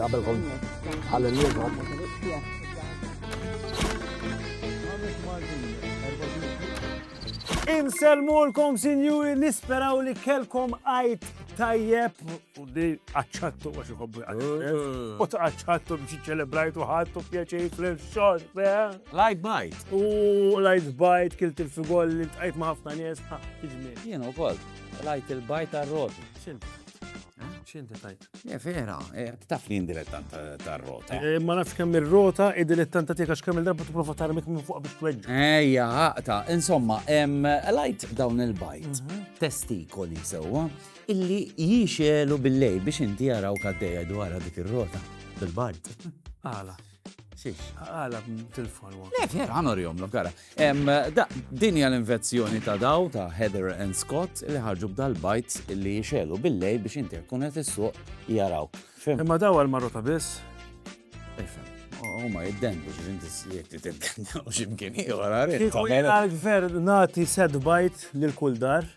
Qabel kont għal-lum. Inselmulkom sinjuri nisperaw li kelkom għajt tajjeb U di għacċattu għax iħobbu għacċattu. U ta' għacċattu biex iċċelebrajtu ħattu pjaċej fl-xor, Light bite. U light bite, kilt il-figol li tqajt ma' ħafna nies, ha, iġmi. Jien u koll, light il-bite għal-roti. Xint? Xint tajt? Ja, vera, eh, taf li indilettant tar-rota. Eh, ma nafx kemm ir-rota, id-dilettanta tiegħek għax kemm il-darba tipprova tarmik minn fuq biex tweġġa. Ejja, ħaqta, insomma, light dawn il-bite, mhm. testikoli sewwa. So, Illi jixegħlu bil-lejl biex inti arawk għaddejja dwarha dik ir-rota fil-bard. Għala? Xiex? Għala b'tilfon waqt. Le, vera, għan orjomlok, għara. Em, da, din hija l-invenzjoni ta' daw ta' Heather and Scott li ħarġu b'dal-bajt li jixelu bil-lej biex inti tkun qed issuq jaraw. Fem, Imma daw għal-marrota biss. fem. Huma jiddendu xi inti jekk titdendu x'imkien ieħor għarid. Kieku jgħalk ver nati set bajt lil kull dar.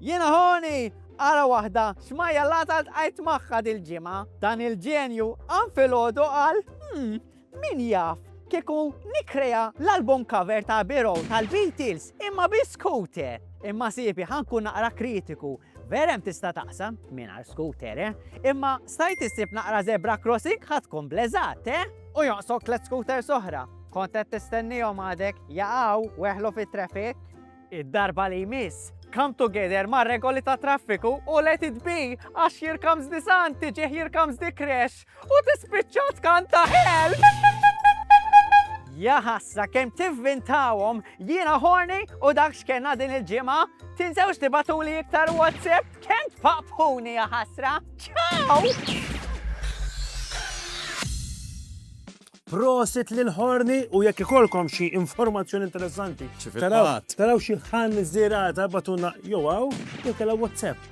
Jiena Honi! Ara waħda xmajjallata ltqajt magħha dil-ġimgħa. Dan il-ġenju qam filgħodu qal, Hm, min jaf, kieku nikkrea l-album cover ta' Abbey Road tal-Beatles imma bi scooter! Imma siepi ħa nkun naqra kritiku, vera hemm tista' taqsam mingħajr scooter, eh? Imma stajt issib naqra zebra crossing ħa tkun bleżat, eh? U jonqsok tliet scooters oħra. Kont qed tistennihom għadek jaqgħu weħlu fit-traffic? Id-darba li jmiss, come together mar-regoli tat-traffiku u let it be għax here comes the sun tiġi here comes the crash u tispiċċa tkanta help! Jaħassa kem tivvintawhom jiena horny u dak x'kenna din il-ġimgħa. Tinsewx tibatuli iktar WhatsApp kem tpaqpuni jaħasra. Ciao! Prosit lil Horni u jekk ikolkom xi informazzjoni interessanti. Taraw xi ħan żirata batuna jew hawn jew kellha WhatsApp.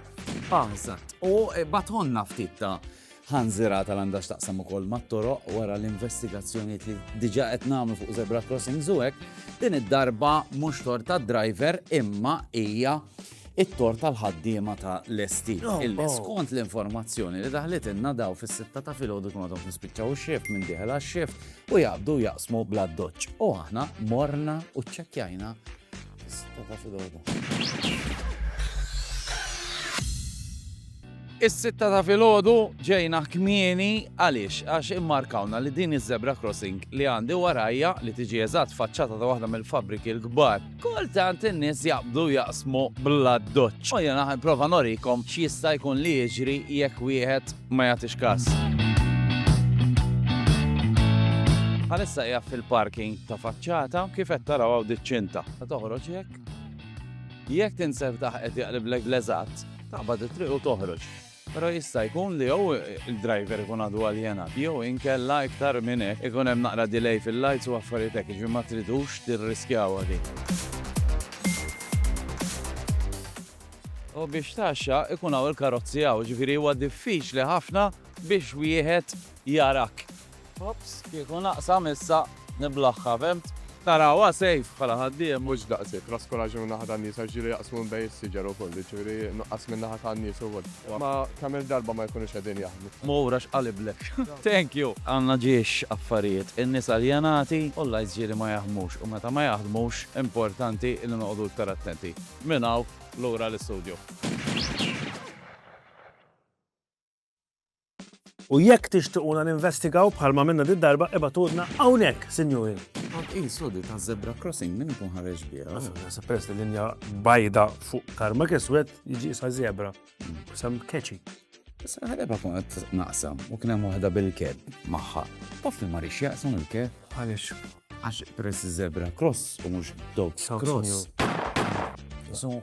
Aħżat. Ah, u eh, batonna ftit ta' ħan żirata l għandax taqsam ukoll mat-toroq wara l-investigazzjoni li diġa qed nagħmlu fuq zebra crossing zuwek, din id-darba mhux tor tad-driver imma hija it-tort tal-ħaddiema ta' l-esti. Oh, Illi oh. skont l-informazzjoni li daħlet inna daw fis-sitta ta' filgħodu kunu għadhom nispiċċaw ix-xift minn diħel għax-xift u jaqbdu jaqsmu bla doċ. U aħna morna u ċċekkjajna sitta ta' filgħodu. Is-sitta ta' filgħodu ġejna kmieni għaliex għax immarkawna li din iż-zebra crossing li għandi warajja li tiġi eżatt faċċata ta' waħda mill-fabbriki l-kbar. Kultant in-nies jaqbdu jaqsmu bl-addoċċ. U jiena ħa nipprova norikom x'jista' jkun li jiġri jekk wieħed ma jagħtix każ. Bħalissa hija fil-parking ta' faċċata kif qed taraw hawn diċ-ċinta. Ta' toħroġ jekk? Jekk tinseb taħqet jaqliblek bl-eżatt, taqbad it-triq u toħroġ. Però jista' jkun li jew il-driver ikun għadu aljenat jew inkella iktar minn hekk ikun hemm naqra delay fil-lights u affarijiet hekk, jiġifieri ma tridux tirriskjawha din. U biex tgħaxxa ikun hawn il-karozzi hawn, jiġifieri huwa diffiċli ħafna biex wieħed jarak. Ops, kieku naqsa missa niblaħħha, fhimt? Tarawha safe bħala ħaddiem. Mhux daqshekk, raskuraġġ minn naħa tan-nies għax ġieli jaqsmu minn bejn is-siġar ukoll, jiġifieri nuqqas minn naħa tan-nies ukoll. Ma kemm-il darba ma jkunux qegħdin jaħdmu. Mur għax qaliblek. Thank you! Għandna ġiex affarijiet, in-nies aljenati u l-lights ġieli ma jaħdmux u meta ma jaħdmux importanti li noqogħdu iktar attenti. Minn hawn lura l-istudju. U jekk tixtiquna ninvestigaw bħalma għamilna did-darba, ibagħtulna hawnhekk, sinjuri. Kont qisu di ta' zebra crossing minn ikun ħareġ biha. Nasib peress li linja bajda fuq tarmak iswed jiġi sa zebra. Sam keċi. Issa ħareba kun qed naqsam u kien hemm waħda bil-keb magħha. Taf li ma rix jaqsam il-keb. Għaliex? Għax peress zebra cross u mhux dog cross. So,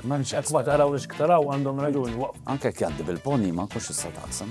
M'hemmx hekk ma tarawx x'taraw għandhom raġuni. Anke jekk jgħaddi bil-pony ma nkunx nista' taqsam.